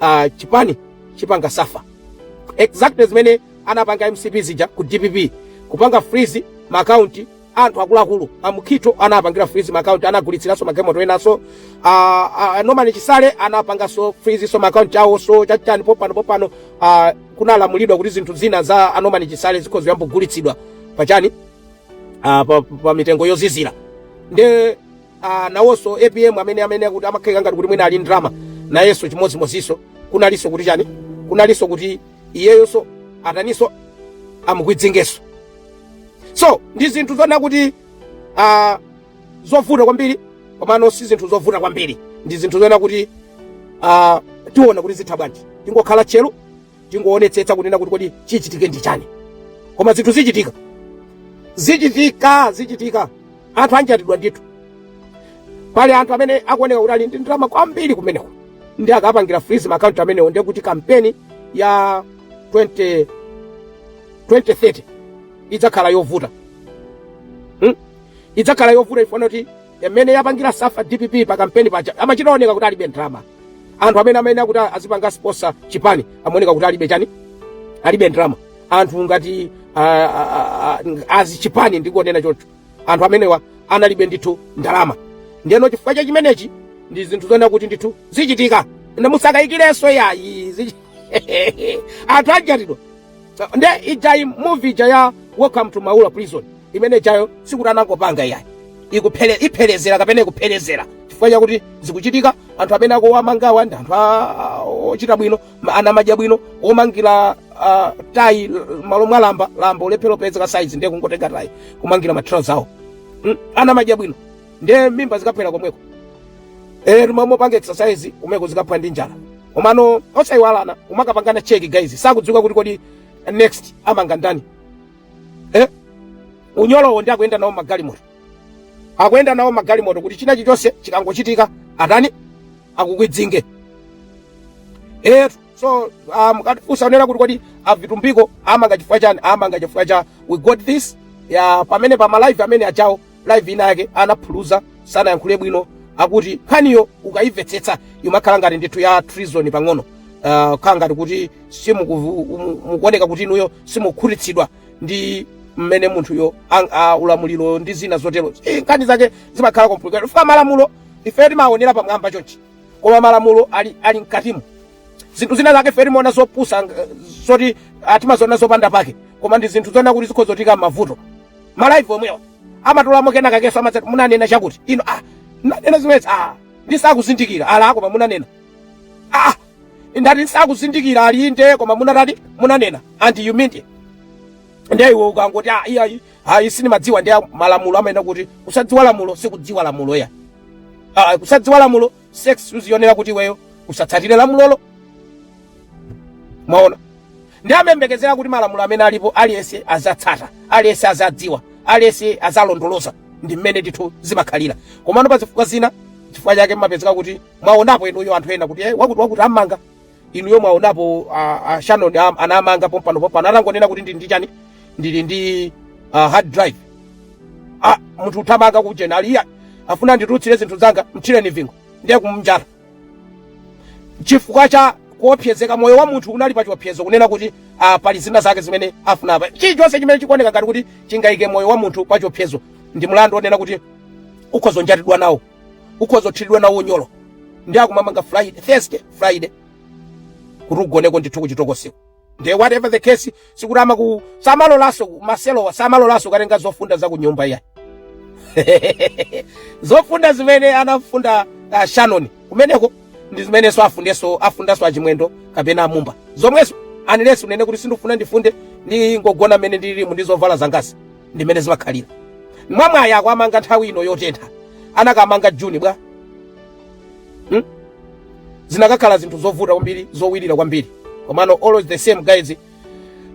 uh, chipani chipanga safa exactly zimene anapanga mcp zija ku dpp kupanga freeze maakaunti anthu akuluakulu amukhito anapangira freeze maakaunti anagulitsiranso magalimoto enaso uh, uh, norman chisale anapanganso freeze so maakaunti awo so chachikani popano popano uh, kunalamulidwa kuti zinthu zina za anorman chisale zikhoza kuyamba kugulitsidwa pachani uh, pa, pa mitengo yozizira nde Ah, nawonso apm amene amene akuti amakhalika ngati kuti mwina ali ndrama nayenso chimodzimodzinso kunalinso kuti chani kunalinso kuti iyeyonso ataninso amukwidzingenso so ndi zinthu zona kuti ah, zovuta kwambiri komano si zinthu zovuta kwambiri ndi zinthu zona kuti ah, tiona kuti zitha bwanji tingokhala tcheru tingoonetsetsa kunena kuti kodi chichitike ndi chani koma zinthu zichitika zichitika zichitika anthu anjatidwa ndithu pali anthu amene akuoneka kuti ali ndi ndalama kwambiri kumeneko ndi akapangira freeze maakaunti amenewo ndiye kuti kampeni ya 20 2030 idzakhala yovuta hmm? idzakhala yovuta ifanana kuti yamene inapangira safa dpp pa kampeni paja amachita oneka kuti alibe ndrama anthu amene amayenera kuti azipanga sponsor chipani amaoneka kuti alibe chani alibe ndrama anthu ngati ah, ah, ah, azi chipani ndikonena choncho anthu amenewa analibe ndithu ndalama ndiyeno chifukwa cha chimenechi ndi zinthu zoona kuti ndithu zichitika ndipo musakayikirenso yayi zichi- anthu anjatidwa nde ijayi movie ija ya welcome to maula prison imene ijayo sikuti anangopanga iyayi ikuphele iphelezera kapena ikuphelezera chifukwa chakuti zikuchitika anthu amene akuwamangawa ndi anthu a- a- ochita bwino ma- ana madya bwino omangira ah, tayi l- malo mwa lamba lamba kulephera kupezeka saizi ndiye kungotenga tayi kumangira matrauza awo Mm, ana madya bwino ndiye mimba zikaphwera komweko eh mumakapanga exercise kumeneko zikaphwa ndi njala komano osayiwalana kumakapangana cheki guys sakudziwika kuti kodi next amanga ndani eh? unyolowo ndi akuyenda nawo magalimoto akuyenda nawo magalimoto kuti china chilichonse chikangochitika atani akukwidzinge eh, so um, usaonera kuti kodi avitumbiko amanga chifukwa chani amanga chifukwa cha we got this ya pamene pa malive amene achitawo live ina yake anaphuluza sanayankhule bwino akuti nkhaniyo ukayimvetsetsa imakhala ngati ndithu ya treason pang'ono uh, khala ngati kuti mukuoneka kuti inuyo simukukhutitsidwa ndi mmene munthuyo ang- a- ulamuliro ndi zina zotero Eh, nkhani zake zimakhala complicated chifukwa malamulo ife timaonera pamwamba chonchi koma malamulo ali, ali mkatimo zinthu zina zake ife timaona zopusa ng- zoti ah, timaziona zopanda pake koma ndi zinthu zoona kuti zikhoza kutiyika m'mavuto malaivu omwewo amatulamo kenakakenso amadzati munanena chakuti ino ah munanena zimenezi ah ndisakuzindikira ala koma munanena ah ndati ndisakuzindikira ali inde koma munatati munanena and you mean it ndiye iwe ukangoti ah iya iyi ayi sindimadziwa ndiye malamulo amayenda kuti kusadziwa lamulo sikudziwa lamulo ya ah kusadziwa lamulo si excuse yonena kuti iweyo usatsatire lamulolo mwaona nde amayembekezera kuti malamulo amene alipo aliyense azatsata aliyense azadziwa aliyense azalondoloza ndi mmene ndithu zimakhalira komano pa zifukwa zina chifukwa chake mmapezeka kuti mwaonapo inuyo anthu ena kuti eh, wakuti wakuti ammanga inuyo mwaonapo a, a Shannon am- anamanga pompano pompano atangonena kuti ndili ndi chani ndili ndi uh, hard drive ah, munthu uthamanga kujena aliya afuna nditutsire zinthu zanga mthireni vingo ndiye kumnjata chifukwa cha kuopsezeka moyo wa munthu unali pa chiopsezo kunena kuti ah, pali zina zake zimene afuna apa chilichonse chimene chikuoneka ngati kuti chingayike moyo wa munthu pa chiopsezo ndi mlandu onena kuti ukhoza kunjatidwa nawo ukhoza kuthiridwa nawo unyolo nde akumamanga friday thursday friday kuti ugoneko ndithu kuchitokoseko nde whatever the case sikuti amaku samalolanso maselowa samalolanso ukatenga zofunda za kunyumba iya zofunda zimene anafunda uh, shannon kumeneko ndi zimenenso afundanso afundanso achimwendo kapena amumba zomwezo unless unene kuti sindifuna ndifunde ndingogona mmene ndililimu ndi zovala zangazi ndimene zimakhalira mwamwayi akwamanga nthawi ino yotentha anakamanga juni bwa hmm? zinakakhala zinthu zovuta kwambiri zowirira kwambiri komano all the same guys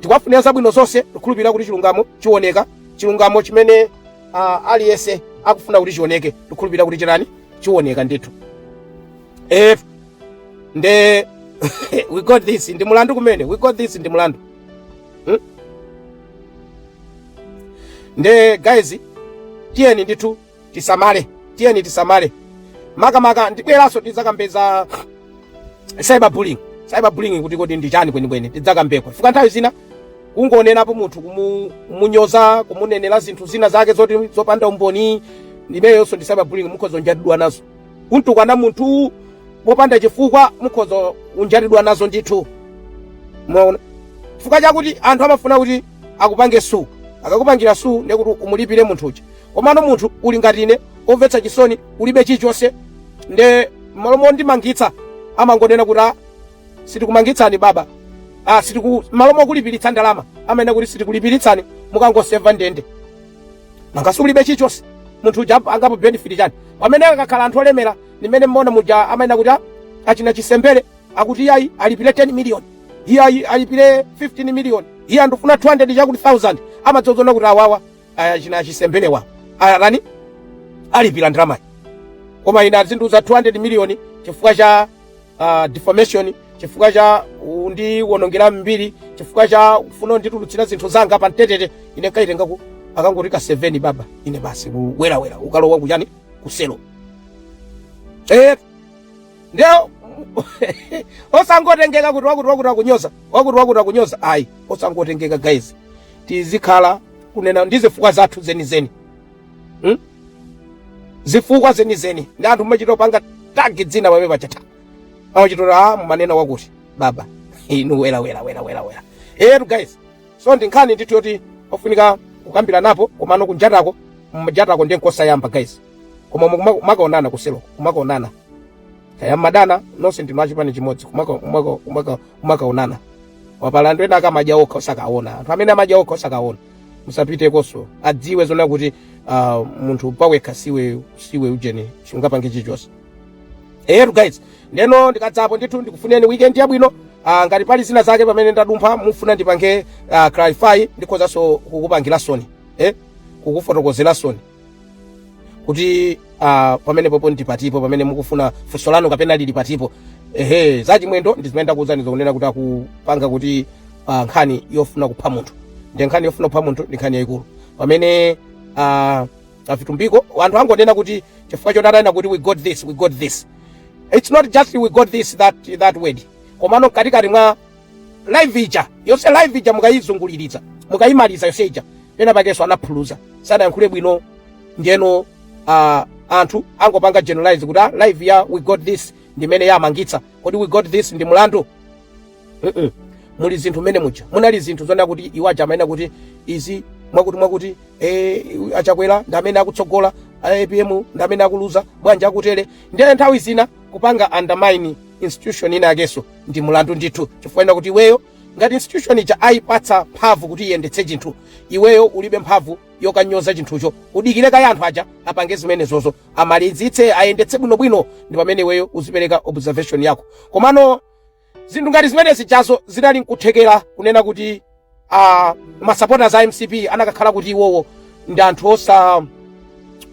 tikwafunira zabwino zonse tikhulupirira kuti chilungamo chiwoneka chilungamo chimene uh, aliyense akufuna kuti chioneke tikhulupirira kuti chitani chiwoneka ndithu if nde we got this ndi mulandu kumene we got this ndi mulandu hmm? nde guys tiyeni ndithu tisamale tiyeni tisamale makamaka ndibweranso tidzakambe za cyber bullying cyber bullying kuti kodi ndi chani kwenikweni tidzakambeko chifukwa nthawi zina kungonenapo munthu kumunyoza kumunenera zinthu zina zake zoti zopanda umboni imeneyonso ndi cyber bullying mukhoza kunjatidwa nazo Kumtukwana munthu popanda chifukwa mukhoza kunjatidwa nazo ndithu. Mwaona? Chifukwa chakuti anthu amafuna kuti akupange sue. Akakupangira sue ndiye kuti umulipire munthu uja. Komano munthu uli ngati ine, omvetsa chisoni, ulibe chilichonse. Nde m'malo mondimangitsa amangonena kuti ah, sitikumangitsani baba. Ah, sitiku m'malo mokulipiritsa ndalama amanena kuti sitikulipiritsani mukangoseva ndende. mangasi ulibe chichonse munthu uja angapo benefit chani pamene akakhala anthu olemera m'mene mmaona muja amanena kuti "Ah, achina Chisembere akuti iyayi alipire 10 million iyayi alipire 15 million iye andifuna 200 chakuti 1000 amadzaona kuti awawa achina Chisembere awa atani alipira ndalama koma ine azindiuza 200 million chifukwa cha uh, defamation chifukwa cha undiwonongera mbiri chifukwa cha kufuna kunditulutsira zinthu zanga pa mbetete ine nkaitenga ku akangotika 7 baba ine basi kuwerawera ukalowa kuchani kuselo eh ndiye osangotengeka kuti wakuti wakuti akunyoza wakuti wakuti akunyoza ayi osangotengeka guys tizikhala kunena ndi zifukwa zathu zenizeni hmm? zifukwa zenizeni ndi anthu mumachita kupanga tag dzina pamene pachata amachitota a ah, mumanena wakuti baba inu wela wela wela wela wela eyetu guys so ndi nkhani ndithu yoti ofunika kukambiranapo komano kunjatako, mjatako ndiye n'kosayamba guys koma kumakaonana kuselo kumakaonana kaya madana nonse ndinu achipani chimodzi kumakaonana apa pali anthu ena akamaja okha osakaona anthu amene amaja okha osakaona musapitekonso adziwe zona kuti uh, munthu pawekha siiwe siiwe ujeni sungapange chichonse eyetu guys ndeno ndikadzapo ndithu ndikufunireni weekend yabwino uh, ngati pali zina zake pamene ndadumpha mufuna ndipange uh, clarify ndikhozanso kukupangiranisoni eh? kukufotokozeranisoni kuti uh, pamenepopo ndipatipo pamene mukufuna funso lanu kapena lili patipo ehe za Chimwendo ndi zimene ndakuwuzani zokunena kuti akupanga kuti uh, nkhani yofuna kupha munthu ndi nkhani yofuna kupha munthu ndi nkhani yayikulu pamene uh, a Vitumbiko anthu angonena kuti chifukwa choti atanena kuti we got this we got this it's not just we got this that, that word komano mkatikati mwa live ija yonse live ija mukayizunguliza mukayimaliza yonse ija pena pakenso anaphuluza sanayankhule bwino ndiyeno uh, anthu angopanga generalize kuti ah, live ya we got this ndimene yamangitsa kodi we got this ndi mulandu mm -mm. muli zinthu mmene muja munali zinthu zonena kuti iwo aja amanena kuti izi mwakuti mwakuti eh, a Chakwera ndi amene akutsogola APM ndi amene akuluza bwanji akutero ndiye nthawi zina kupanga undermine institution ina yakenso ndi mulandu ndithu chifukwa chonena kuti iweyo ngati institution ija ayipatsa mphamvu kuti iyendetse chinthu iweyo ulibe mphamvu yokanyoza chinthucho udikire kaye anthu aja apange zimenezozo amalizitse ayendetse bwinobwino ndi pamene iweyo uzipereka observation yako komano zinthu ngati zimene zijazo zinali nkuthekera kunena kuti masapota a mcp anakakhala kuti iwowo ndi anthu osa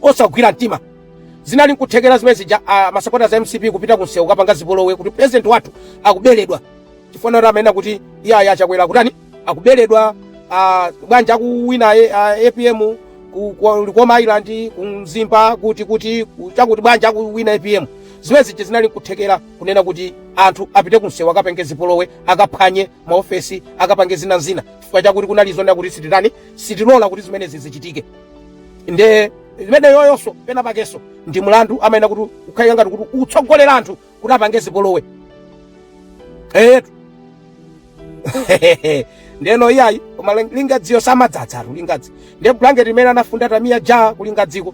osagwira mtima zinali nkuthekera zimene zija a masapota za mcp kupita kunsewu kapanga zipolowe kuti president wathu akuberedwa chifukwa kuti amanena kuti iyayi a chakwera kutani akuberedwa a, bwanji akuwina e- a, apm ku- ku- likoma island ku mzimba kuti kuti ku- chakuti bwanji akuwina apm zimene zija zinali nkuthekera kunena kuti anthu apite kunsewu akapange zipolowe akaphwanye maofesi akapange zina zina chifukwa chakuti kunali zonena kuti sititani sitilola kuti zimenezi zichitike nde imeneyoyonso pena pakenso ndi mlandu amayenera kuti ukhalira ngati kuti utsogolera anthu kuti apange zipolowe eyetu ndeno iyayi koma lingadziyo samadzadzatu lingadzi nde blanket limene anafunda tamiya ja ku lingadziko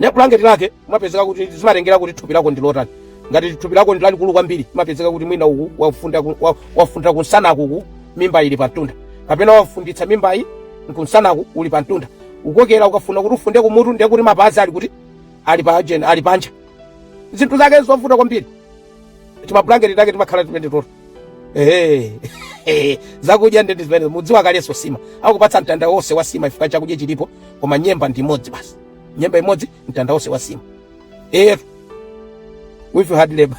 ne bulangeti lake mapezeka kuti zimatengera kuti thupi lako ndi lotani ngati thupi lako ndi lalikulu kwambiri mapezeka kuti mwina uku wafunda ku- wa- wafundira kunsanaku ku mimba ili pamtunda kapena wafunditsa mimbayi kunsanaku uli pamtunda ukokera ukafuna kuti ufunde kumutu ndiye kuti mapazi ali kuti ali pa ajeni ali panja zinthu zake zovuta kwambiri timablanketi take timakhala tipende toto Ehe. Ehe. zakudya nde ndi zimene mudziwa kaleso sima akupatsa mtanda wonse wa sima ifika chakudya chilipo koma nyemba ndi imodzi basi nyemba imodzi mtanda wonse wa sima etu with hard labor